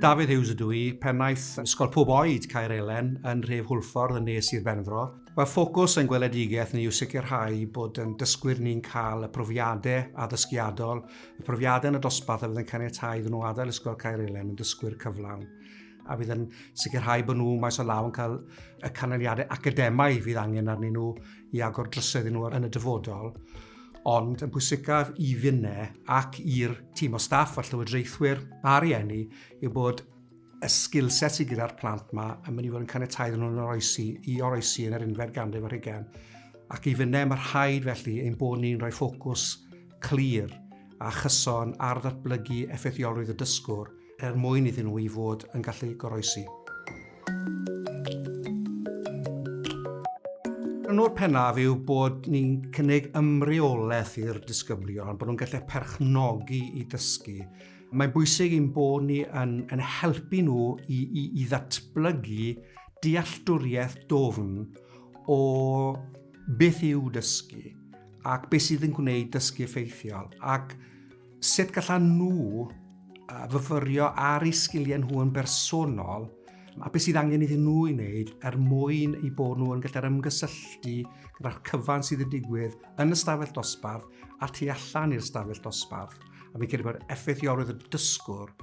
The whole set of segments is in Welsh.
Dafydd Hughes ydw i, pennaeth Ysgol Pob Oed Caer Elen yn Rhef Hwlffordd yn nes i'r Benfro. Mae ffocws yn gweledigaeth ni yw sicrhau bod yn dysgwyr ni'n cael y profiadau addysgiadol, y profiadau yn y dosbarth a fydd yn caniatau iddyn nhw adael Ysgol Caer Elen yn dysgwyr cyflawn. a fydd yn sicrhau bod nhw maes o law yn cael y canlyniadau academaidd fydd angen arnyn nhw i agor drysau iddyn nhw yn y dyfodol. Ond yn bwysicaf i finne ac i'r tîm o staff a llywodraethwyr a rieni yw bod y sgil set sydd gyda'r plant yma yn mynd i fod yn caniatau iddyn nhw'n oroesi, i oroesi yn yr unfed ganrif ar hugain. Ac i finne mae rhaid felly ein bod ni'n rhoi ffocws clir a chyson ar ddatblygu effeithiolrwydd y dysgwr er mwyn iddyn nhw i fod yn gallu goroesi. Rhan o'r pennaf yw bod ni'n cynnig ymreolaeth i'r disgyblion, bod nhw'n gallu perchnogi i dysgu. Mae'n bwysig i'n bod ni yn, yn helpu nhw i, i, i ddatblygu dealltwriaeth dofn o beth yw dysgu ac beth sydd yn gwneud dysgu effeithiol ac Sut gallan nhw fyfyrio ar eu sgiliau nhw yn bersonol a beth sydd angen iddyn nhw i wneud er mwyn i bod nhw yn gallu'r ymgysylltu gyda'r cyfan sydd yn digwydd yn y stafell dosbarth a tu allan i'r stafell dosbarth. A fi'n credu bod effeithiolrwydd y dysgwr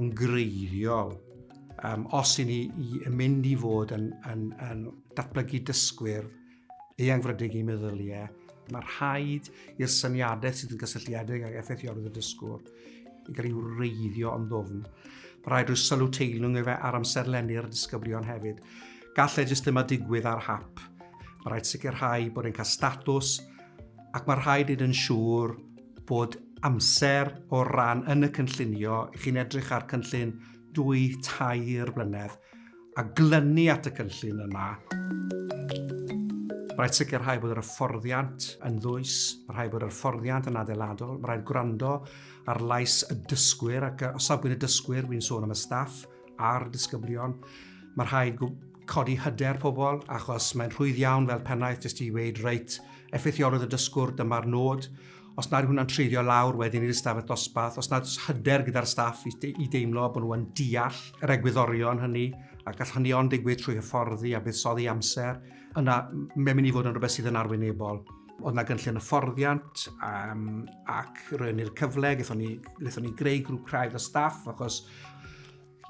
yn greiddiol um, os i ni i mynd i fod yn, yn, yn datblygu dysgwyr Eangfrydig i meddyliau, mae rhaid i'r syniadau sydd yn gysylltiedig ag effeithiolydd y dysgwr i gael ei wreiddio yn ddofn. Mae rhaid rhoi sylw teilwng efe ar amserlennu'r disgyblion hefyd. Gall e jyst ddim a digwydd ar hap. Mae rhaid sicrhau bod e'n cael statws ac mae rhaid i'n siŵr bod amser o ran yn y cynllunio, chi'n edrych ar cynllun dwy, tair blynedd, a glynu at y cynllun yma. Mae rhaid sicrhau bod yr hyfforddiant yn ddwys, mae rhaid bod yr hyfforddiant yn adeiladol, mae rhaid gwrando ar lais y dysgwyr ac o safbwynt y dysgwyr, wy'n sôn am y staff a'r disgyblion, mae rhaid codi hyder pobl achos mae'n rhwydd iawn fel pennaeth jyst i weud reit, effeithiolrwydd y dysgwr, dyma'r nod, os nad yw hwnna'n treiddio lawr wedyn i'r ystafell dosbarth, os nad oes hyder gyda'r staff i, de i deimlo bod nhw'n deall yr egwyddorion hynny, a gall hynny ond digwydd trwy hyfforddi a buddsoddi amser, yna mae'n mynd i fod yn rhywbeth sydd yn arwynebol. Oedd yna gynllun hyfforddiant um, ac roedd ni'r cyfle, gaethon ni, gaethon ni greu grŵp craidd o staff achos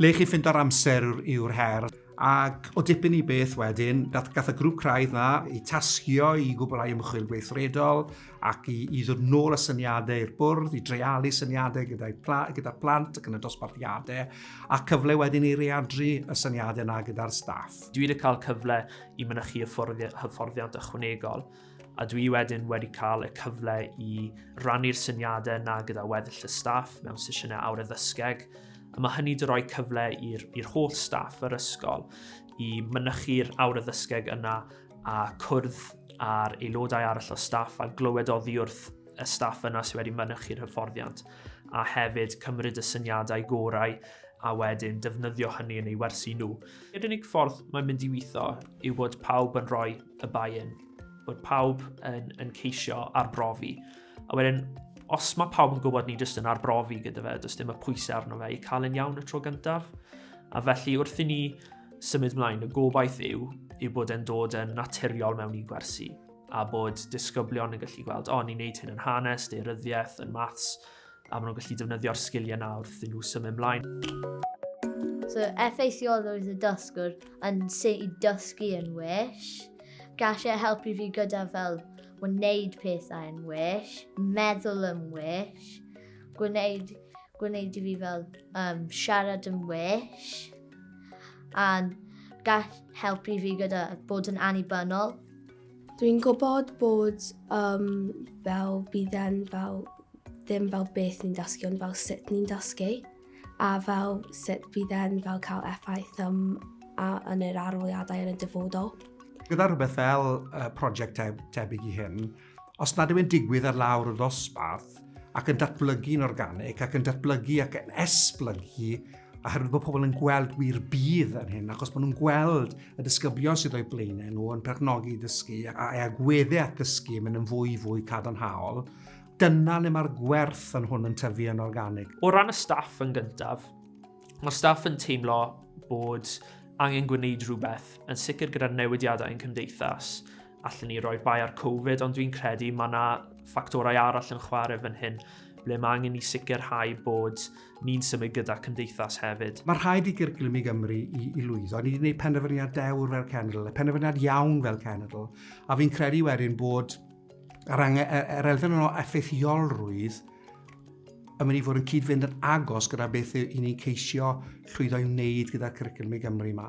Lle chi'n ffindo'r amser yw'r her. Ac o dipyn i beth wedyn, gath y grŵp craidd yna eu tasgio i gwblhau ymchwil gweithredol ac i, i ddod nôl y syniadau i'r bwrdd, i dreialu syniadau gyda'r pla, gyda plant ac yn y dosbarthiadau, a cyfle wedyn i readru y syniadau yna gyda'r staff. Dwi wedi cael cyfle i mynychu hyfforddiant ychwanegol a dwi wedyn wedi cael y cyfle i rannu'r syniadau yna gyda weddill y staff mewn sesiynau awr addysgeg, a mae hynny wedi rhoi cyfle i'r holl staff yr ysgol i mynychu'r awr addysgeg yna a cwrdd â'r aelodau arall o staff a glywed oddi wrth y staff yna sydd wedi mynychu'r hyfforddiant a hefyd cymryd y syniadau gorau a wedyn defnyddio hynny yn ei wersi nhw. Yr unig ffordd mae'n mynd i weithio yw bod pawb yn rhoi y buy-in, bod pawb yn, yn ceisio arbrofi. A wedyn, os mae pawb yn gwybod ni jyst yn arbrofi gyda fe, does dim y pwysau arno fe i cael yn iawn y tro gyntaf. A felly wrth i ni symud mlaen, y gobaith yw yw bod e'n dod yn naturiol mewn i gwersi a bod disgyblion yn gallu gweld, o, ni'n neud hyn yn hanes, deiryddiaeth, yn maths, a maen nhw'n gallu defnyddio'r sgiliau yna wrth iddyn nhw symud ymlaen. So, effeithiol oedd y dysgwr yn sut i dysgu yn well. Gall e helpu fi gyda fel wneud pethau yn well, meddwl yn well, gwneud, gwneud i fi fel um, siarad yn well, a gall helpu fi gyda bod yn annibynnol. Dwi'n gwybod bod um, fel bydd e'n fel ddim fel beth ni'n dysgu ond fel sut ni'n dysgu a fel sut bydd e'n fel cael effaith um, a, yn yr aroliadau yn y dyfodol. Gyda rhywbeth fel uh, prosiect tebyg i hyn, os nad yw'n digwydd ar lawr y ddosbarth, ac yn datblygu'n organig ac yn datblygu ac yn esblygu oherwydd bod pobl yn gweld wir bydd yn hyn, achos maen nhw'n gweld y disgyblion sydd o'i blaenau nhw yn perchnogi dysgu a e agweddau at ddysgu yn mynd yn fwy fwy cadarnhaol, dyna le mae'r gwerth yn hwn yn tyfu yn organig. O ran y staff yn gyntaf, mae staff yn teimlo bod angen gwneud rhywbeth yn sicr gyda'r newidiadau yn cymdeithas allwn ni roi bai ar Covid, ond dwi'n credu mae yna ffactorau arall yn chwarae fan hyn, ble mae angen i sicrhau bod ni'n symud gyda cymdeithas hefyd. Mae rhaid i gyrclwm i Gymru i, i lwyddo. Ni wedi gwneud penderfyniad dewr fel cenedl, a penderfyniad iawn fel cenedl, a fi'n credu wedyn bod yr, angen, yr, yr elfen yno effeithiolrwydd yn mynd i fod yn cyd-fynd yn agos gyda beth i ni'n ceisio llwyddo i wneud gyda'r cyrclwm i Gymru yma.